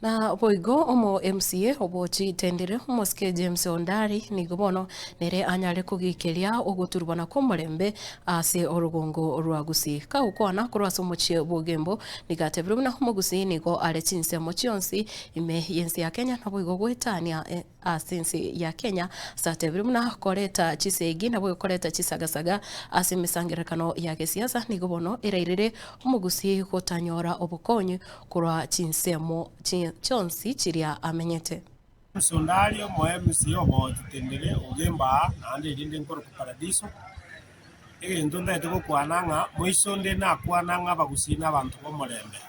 Na boigo omo MCA obochi tendire, omosike James Ondari, nigo bono nere anyare kogiikeria ogoturubana kw'omorembe ase orogongo rwa Gusii. Kagokwana korwa ase omochie bw'ogembo, nigo atebirie buna Omogusii nigo are chinsemo chionsi ime y'ense ya Kenya, naboigo goetania ase ense ya Kenya ase atebire buna koreta chisegi nabo ekoreta chisagasaga ase emesangererekano ya gesiasa nigo bono erairire omogusii gotanyora obokonyi korwa chinsemo chionsi chiria amenyete. Yesu onde aria omoemisi obogochi tendere ogembaa naende erinde nkorokwa Paradiso. Egento ntaete gokwana ng'a moiso onde nakwana ng'a abagusii nabanto b'omorembe.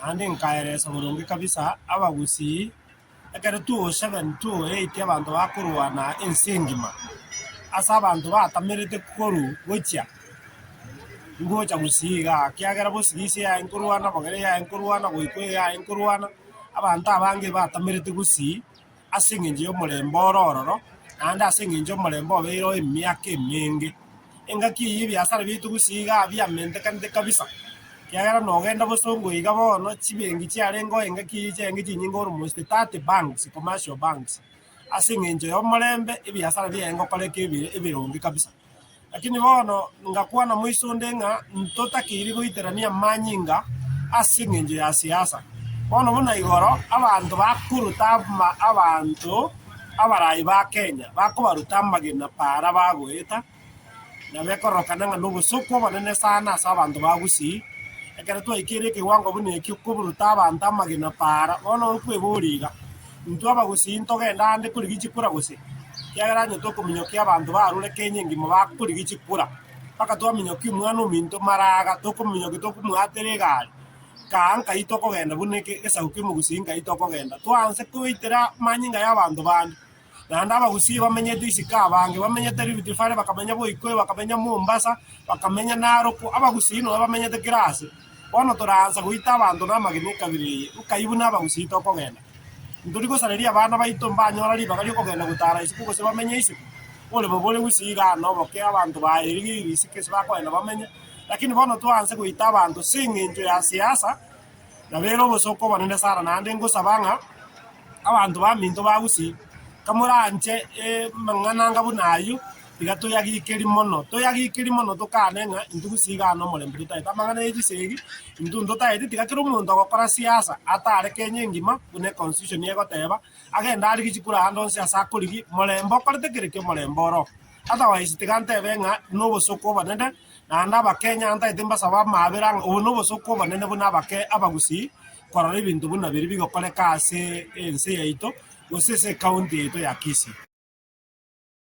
Naende nkaeresa boronge kabisa abagusii. Ekero tw'ogochegani twoetie abanto bakorwana ense engima, ase abanto batamerete koru gochia, ngocha gusii igaa, kiagera bosige ise yaye nkorwana, bogere yaye nkorwana, goika eye yaye nkorwana, abanto abange batamerete gusii ase eng'encho y'omorembe oro ororo, naende ase eng'encho omorembe obeire oye emiaka emenge. Engaki eye ebiasara biaito gose iga aah biamentekanete kabisa, ekiagera nogenda bosongo iga bono, chibengi chiarengeo engaki eye chiarenge chinyinge almost thirty banks, commercial banks, ase eng'encho y'omorembe ebiasara biaye ngokoreka ebi ebironge kabisa. Lakini bono ngakwana moiso onde ng'a ntotakeiri goiterania amanyinga ase eng'encho ya siasa. Bono buna igoro abanto bakorota ama abanto. abaraai ba Kenya bakobaruta amagena paara bagoeta, na bekororokana ng'a nobosoku obonene sana ase abanto ba Gusii. Ekero twaikire ekewango buna ekio koburuta abanto amagena paara, bono okweboria iga, intwe Abagusii ntogende ande korigichia kura gose? Ekiagera onye tokominyokia abanto barure Kenya engima bakorigichia kura, mpaka twaminyokia omwana ominto maraga, tokomominyokia tokomwaatera egari, Kaa nkaitwa okogenda buna eke esaguko emogusii nkaitwa okogenda twa nse koitera amanyinga y'abanto bande. Naende abagusii bamenyete isiko abange bamenyete Rift Valley bakamenya Boikoyo bakamenya Mombasa bakamenya Naroko abagusii nonya bamenyete kera ase. Bono toraansa goita abanto na amagena ekabira eye nkai buna abagusii tokogenda. Ntori gosareria abana baito mbanyora ribaga ri'okogenda gotara isiko gose bamenye isiko. Oboremo bore gusii igaa noboke abanto baye rigirii isiko ase bakogenda bamenye. Lakini bono toanse goita abanto ase engencho ya siasa, nabere obosooku obonene sana, naende ngosaba ng'a abanto baminto ba Gusii, kamoranche amang'ananga buna ayio, iga toyagikeri mono, toyagikeri mono tokane ng'a intwe Gusii iga ane omorembe totaete amang'ana ya chisegi, intwe ntotaete tiga kera omonto ogokora siasa atare Kenya engima buna econstitution egoteba, agende arigie chikura ande onsi ase akorigie, morembe okorete kera ekio omorembe oroo. Otherwise tiga ntebe ng'a nobosooku obonene, naende Abakenya antaete mbasabe amaabera ng'a obo nobosooku obonene buna abake abagusii korora ebinto buna biri bigokoreka ase ense yaito gose ase ecounty yaito ya Kisii.